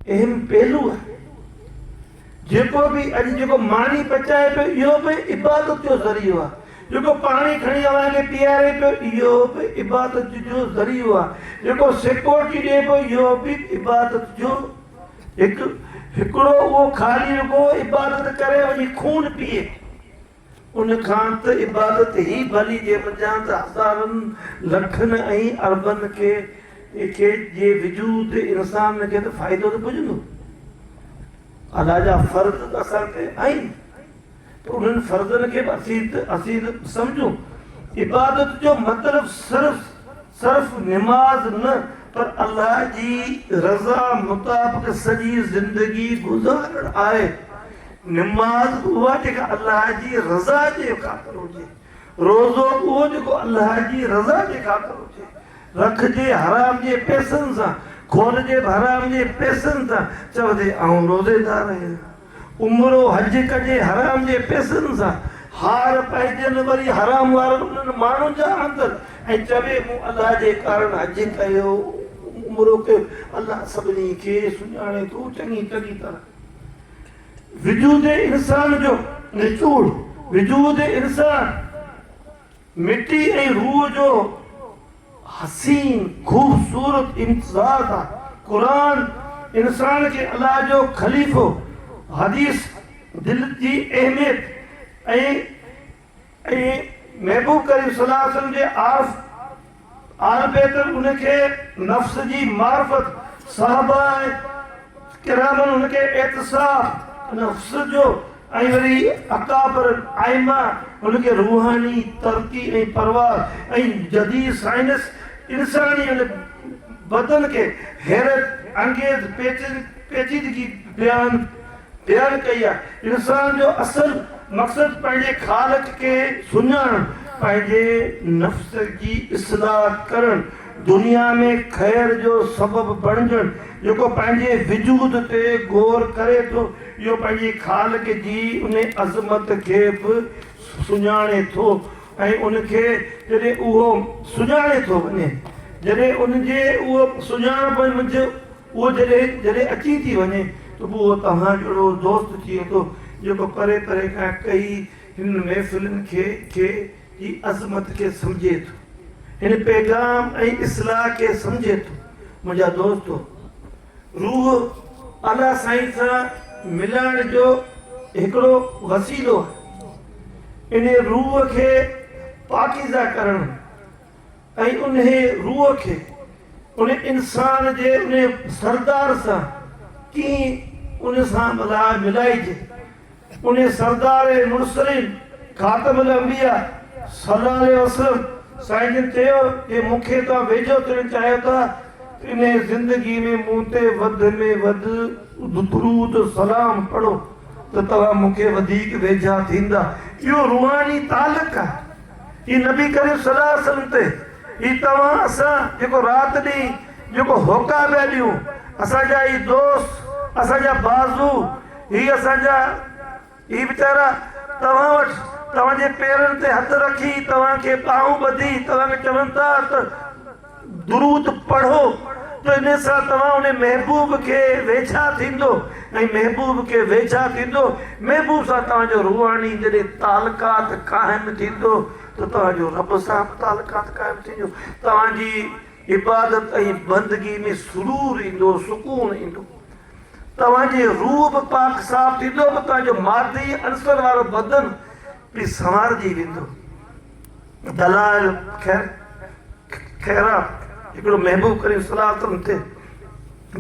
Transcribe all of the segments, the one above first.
اهم پهلو آهي. جيڪو به اڄ جيڪو ماني پچائي پيو اهو به عبادت جو ذريعو آهي، جيڪو پاڻي کڻي اوهان کي پيئاري پيو اهو به عبادت جو ذريعو آهي، جيڪو سيڪورٽي ڏئي پيو اهو به عبادت جو هڪ هڪڙو اهو خالي رڳو عبادت ڪري وڃي خون پيئي. ان کان ته عبادت هي ڀلي جي منجهان ته هزارن لکن ۽ اربن کي کي جي وجود انسان کي ته فائدو ته پڄندو. الله جا فرض ته اسان تي آهن ته انهن فرضن کي به اسين اسين سمجهون عبادت جو مطلب صرف صرف نماز نه پر الله جي رضا مطابق سڄي زندگي گذارڻ آهي. نماز اها جيڪا الله جي رضا جي خاطر هجي. روزو اهو جيڪو الله جي رضا جي خاطر هجي. رکجي حرام جي پئسن سان، کولجي به حرام جي پئسن سان، چئجي آئون روزيدار آهيان. عمرو حج ڪجي حرام جي پيسن سان هار پائجن وري حرام وارن انهن ماڻهن جا آندن ۽ چوي مون الله جي ڪارڻ حج ڪيو عمرو ڪيو الله سڀني کي سڃاڻي ٿو چڱي چڱي طرح وجود انسان جو نچوڙ وجود انسان مٽي ۽ روح جو حسين خوبصورت امتزاج آ. قرآن انسان کي الله جو خليفو، حديث دل جي اهميت ۽ ۽ محبوب ڪريم صلي الله عليه وسلم جي عارف اهلبيت ان کي نفس جي معرفت، صحابه ۽ ڪرامن ان کي اعتصاف، نفس جو ۽ وري اڪابر الائمه ان کي روحاني ترقي ۽ پرواز ۽ جديد سائنس انساني ان بدن کي حيرت انگيز پيچيدگي بيان تيار ڪئي آهي. انسان جو اصل مقصد پنهنجي خالق کي سڃاڻڻ، پنهنجي نفس جي اصلاح ڪرڻ، دنيا ۾ خير جو سبب بڻجڻ، جيڪو پنهنجي وجود تي غور ڪري ٿو، اهو پنهنجي خالق جي ان عظمت کي به سڃاڻي ٿو ۽ ان کي جڏهن اهو سڃاڻي ٿو وڃي، جڏهن ان جي اهو سڃاڻپ منجهه. اهو جڏهن جڏهن اچي ٿي وڃي ته پوء اهو توهان جهڙو دوست ٿئي ٿو جيڪو پري پري کان ڪهي هنن محفلن کي کي جي عظمت کي سمجهي ٿو هن پيغام ۽ اصلاح کي سمجهي ٿو منهنجا دوستو روح اعليٰ سائين سان ملڻ جو هڪڙو وسيلو آهي انهي روح کي پاڪيزه ڪرڻ ۽ انهيء روح کي ان انسان جي انهيء سردار سان ڪيئن ان سان لاء ملائجي. انهيء سردار مرسلين خاتم الانبياء صلّي الله عليه وسلّم سائين جن چيو جي مون کي توهان ويجهو ٿيڻ چاهيو ٿا ته انهيء زندگي ۾ مون تي وڌ ۾ وڌ درود سلام پڙهو ته توهان مون کي وڌيڪ ويجها ٿيندا. اهو روحاني تعلق آهي. اي نبي ڪريم صلي الله عليه وسلم تي اي توهان اسان جيڪو رات ڏينهن جيڪو هوڪا پيا ڏيون اسان جا اي دوست اسان جا بازو هي اسان جا هي ويچارا توهان وٽ توهان جي پيرن تي هٿ رکي توهان کي ٻانهون ٻڌي توهان کي چون ٿا ته درود پڙهو ته ان سان توهان ان محبوب کي ويجها ٿيندو ۽ محبوب کي ويجها ٿيندو محبوب سان توهان جو روحاني جڏهن تعلقات قائم ٿيندو ته توهان جو رب سان به تعلقات قائم ٿيندو توهان جي عبادت ۽ بندگي ۾ سرور ايندو سڪون ايندو توهان جي روح به پاڪ صاف ٿيندو به توهان جو مادي عنصر وارو بدن به سنوارجي ويندو دلائل خيرات هڪڙو محبوب ڪريم صلي الله عليه وسلم تي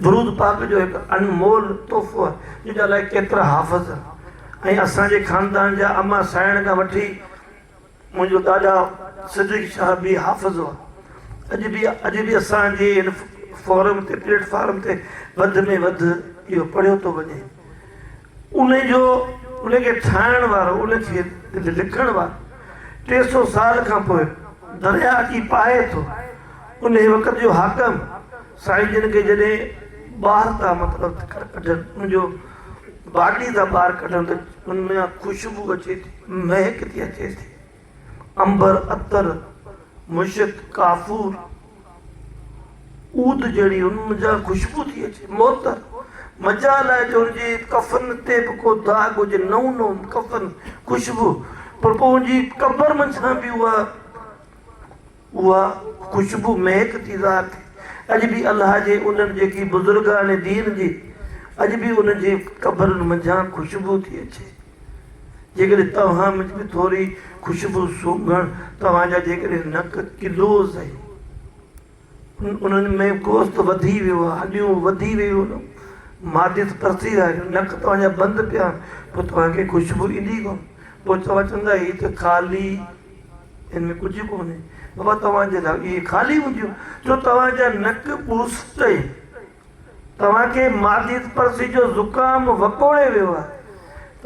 درود پاڪ جو هڪ انمول تحفو آهي جنهن جا الائي ڪيترا حافظ آهن ۽ اسان جي خاندان جا اما سائڻ کان وٺي منهنجو ڏاڏا صديق شاهه به حافظ هئا اڄ به اڄ به اسان جي هن فورم تي پليٽ فارم تي وڌ ۾ وڌ اهو پڙهيو ٿو وڃي ان جو ان کي ٺاهڻ وارو، ان کي لکڻ وارو ٽي سو سال کان پوء درياهه اچي پاهي ٿو. انهيء وقت جو حاڪم سائين جن کي جڏهن ٻاهر ٿا مطلب ڪڍن، ان جو باڊي ٿا ٻاهر ڪڍن ته ان مان خوشبو اچي ٿي، مهڪ ٿي اچي ٿي. عنبر، عطر، مشڪ، ڪافور، عود جهڙي ان منجهان خوشبو ٿي اچي. معطر، مجال آهي جو ان جي ڪفن تي به ڪو داغ هجي، نئون نئون ڪفن، خوشبو، پر پوء ان جي قبر منجهان به اها. اها خوشبو مهڪ جي ذات اڄ به الله جي انهن جيڪي بزرگان دين جي اڄ به انهن جي قبرن منجهان خوشبو ٿي اچي جيڪڏهن توهان منجهه به ٿوري خوشبو سونگهڻ توهان جا جيڪڏهن نڪ ڪلو سهي انهن ۾ گوشت وڌي ويو آهي هڏيون وڌي ويون آهن معدس پرسي ويا آهن نڪ توهان جا بند پيا آهن پوء توهان کي خوشبو ايندي ڪونه پوء توهان چوندا هي ته خالي ان ۾ ڪجهه ڪونهي بابا توهان جي لاء اهي خالي هونديون جو توهان جا نڪ ٻوسٽ اهي توهان کي معديت پرسي جو زڪام وڪوڙي ويو آهي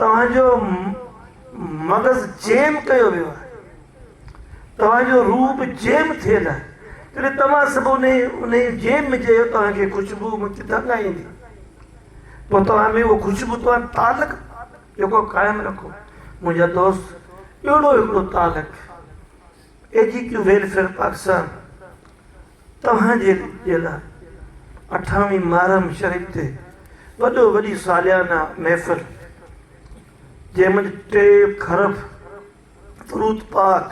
توهان جو مغز جيم ڪيو ويو آهي توهان جو روح به جيم ٿيل آهي جڏهن توهان سڀ ان ان جيم ۾ جيو توهان کي خوشبو مون کي دنگ آئيندي پوء توهان ۾ اهو خوشبو توهان تعلق جيڪو قائم رکو منهنجا دوست اهڙو هڪڙو تعلق اي جي ڪيو ويلفيئر پاڪستان توهان جي جي لاء اٺاوين محرم شريف تي وڏو وڏي ساليانه محفل جنهن منجهه ٽي کرب درود پاڪ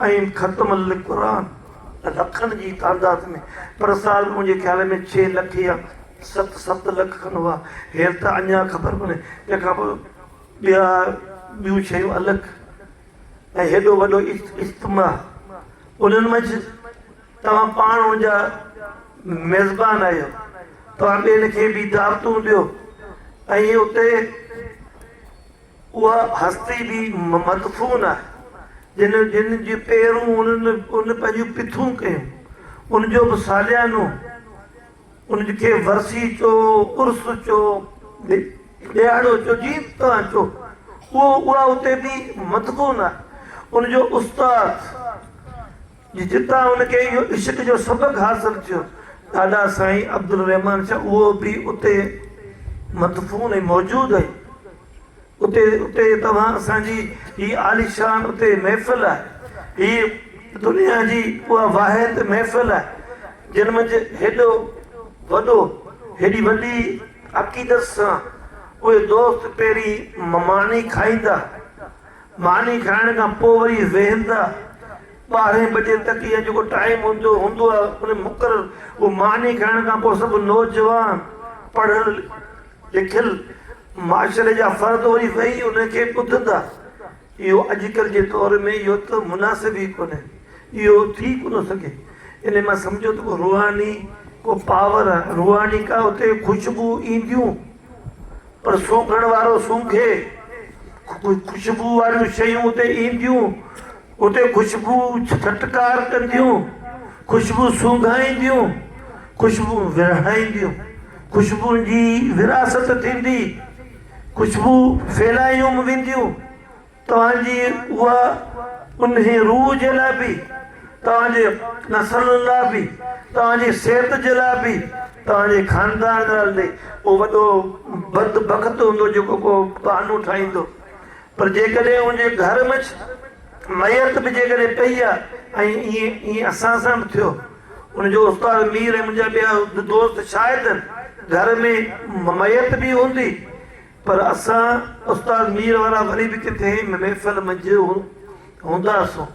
۽ ختم القرآن لکن جي تعداد ۾ پر سال منهنجي خيال ۾ ڇهه لک يا ست ست لک کن هئا هير ته اڃان خبر ڪونهي تنهن کان پوء ٻيا ٻيون شيون الڳ ۽ هيڏو وڏو اجتماع انهن منجھ توهان پاڻ ان جا ميزبان آهيو توهان ٻين کي به دعوتون ڏيو ۽ اتي اها هستي به مدفون آهي، جن جن جي پيرون انهن ان پنهنجون پٿون ڪيون، ان جو به ساليانو ان کي ورسي چؤ، عرس چؤ، ڏهاڙو چؤ، جيئن توهان چؤ، اهو اها اتي به مدفون آهي، ان جو استاد. جي جتان هن کي اهو عشق جو سبق حاصل ٿيو، ڏاڏا سائين عبدالرحمان شاهه اهو به اتي مدفون ۽ موجود آهي. اتي اتي توهان اسان جي هي عاليشان اتي محفل آهي. هي دنيا جي اها واحد محفل آهي، جن منجهه هيڏو وڏو هيڏي وڏي عقيدت سان اهي دوست پهرين مماڻي کائيندا. ماني کائڻ کان پوء وري ويهن ٿا. ٻارهين بجي تڪ يا جيڪو ٽائيم هوندو هوندو آهي ان مقرر اهو ماني کائڻ کان پوء سڀ نوجوان پڙهيل لکيل معاشري جا فرد وري ويهي ان کي ٻڌن ٿا. اهو اڄڪلهه جي دور ۾ اهو ته مناسب ئي ڪونهي. اهو ٿي ڪونه سگهي. انهي مان سمجهو ته ڪو روحاني ڪو پاور روحاني ڪا اتي خوشبوء اينديون. پر سونگهڻ وارو سونگهي، خوشبوء واريون شيون اتي اينديون، اتي خوشبوء ڇٽڪار ڪنديون، خوشبوء سونگهائينديون، خوشبوء ورهائينديون، خوشبوء جي وراثت ٿيندي، خوشبوء ڦهلايون وينديون. توهان جي اها انهي روح جي لاء به، توهان جي نسلن لاء به، توهان جي صحت جي لاء به، توهان جي خاندان لاء به اهو وڏو بدبخت هوندو جيڪو ڪو بهانو ٺاهيندو. پر جيڪڏهن ان جي گهر مچ ميت به جيڪڏهن پئي آ ۽ ائين اسان سان به ٿيو. ان جو استاد مير ۽ منهنجا ٻيا دوست شاهد آهن. گهر ۾ ميت به هوندي پر اسان استاد مير وارا وري به ڪٿي محفل منجهه هونداسون.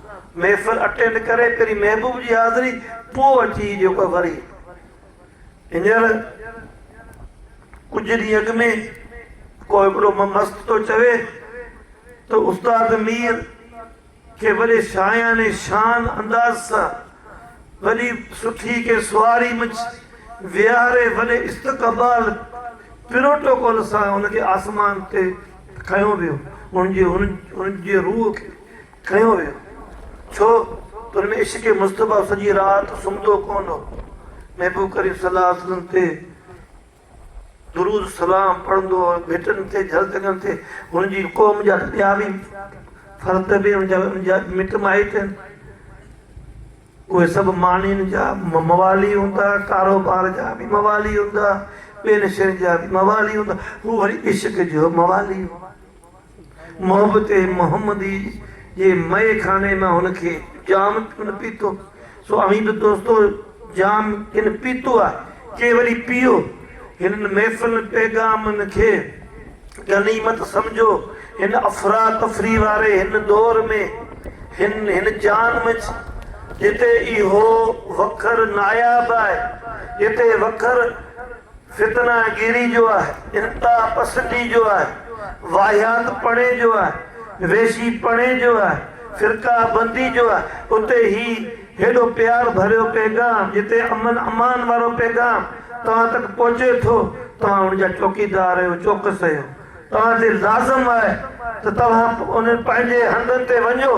محفل اٽينڊ ڪري پهرين محبوب جي حاضري پوء اچي جيڪو وري. هينئر ڪجهه ڏينهن اڳ ۾ ڪو هڪڙو مست ٿو چوي ته استاد مير کي وڏي شاعيانه شان انداز سان وڏي سٺي ڪنهن سواري مچ ويهاري وڏي استقبال پروٽوڪول سان ان کي آسمان تي کنيو ويو ان جي ان جي روح کي کنيو ويو ڇو ته ان ۾ عشق مصطفيٰ سڄي رات سمهندو ڪونه هو محبوب ڪريم صلي الله عليه وسلم تي درود سلام پڙهندو هو، ڀٽن تي، جهلتنگن تي، هن جي قوم جا ته ٻيا به فرد به هن جا مٽ مائٽ آهن، اهي سڀ مانين جا موالي هوندا، ڪاروبار جا به موالي هوندا، ٻين شين جا به موالي هوندا، هو وري عشق جو موالي هو. محبت محمدي جي مئي خاني مان هن کي جام ڪن پيتو، سو اوهين به دوستو جام ڪن پيتو آهي، ڪي وري پيئو. هنن محفلن پيغامن کي غنيمت سمجهو، هن افراتفري واري هن دور ۾، هن هن جان منجهه، جتي اهو وکر ناياب آهي، جتي وکر. فتنه گيري جو آهي، انتها پسندي جو آهي، واهيات پڻي جو آهي، ويشي پڻي جو آهي، فرقه بندي جو آهي، اتي هي هيڏو پيار ڀريو پيغام، جتي امن امان وارو پيغام توهان تڪ پهچي ٿو، توهان ان جا چوڪيدار آهيو، چوڪس آهيو. توهان تي لازم آهي ته توهان انهن پنهنجي هنڌن تي وڃو،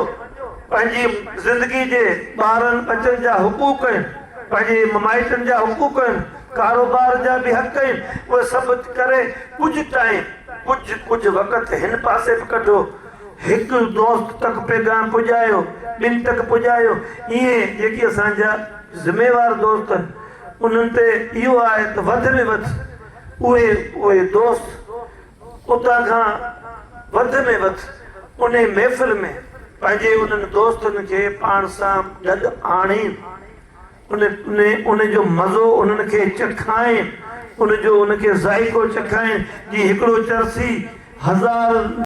پنهنجي زندگي جي ٻارن ٻچن جا حقوق آهن، پنهنجي ممائٽن جا حقوق آهن، ڪاروبار جا به حق آهن، اهي سڀ ڪري ڪجهه ٽائيم، ڪجهه ڪجهه وقت هن پاسي به ڪڍو. هڪ دوست تڪ پيغام پڄايو، ٻن تڪ پڄايو، ائين جيڪي اسان جا ذميوار دوست آهن، انهن تي اهو آهي ته وڌ ۾ وڌ. اهي اهي دوست اتان کان وڌ ۾ وڌ انهي محفل ۾ پنهنجي انهن دوستن کي پاڻ سان گڏ آڻين، ان جو مزو انهن کي چکائين، ان جو ان کي ذائقو چکائين، جي هڪڙو چرسي هزار.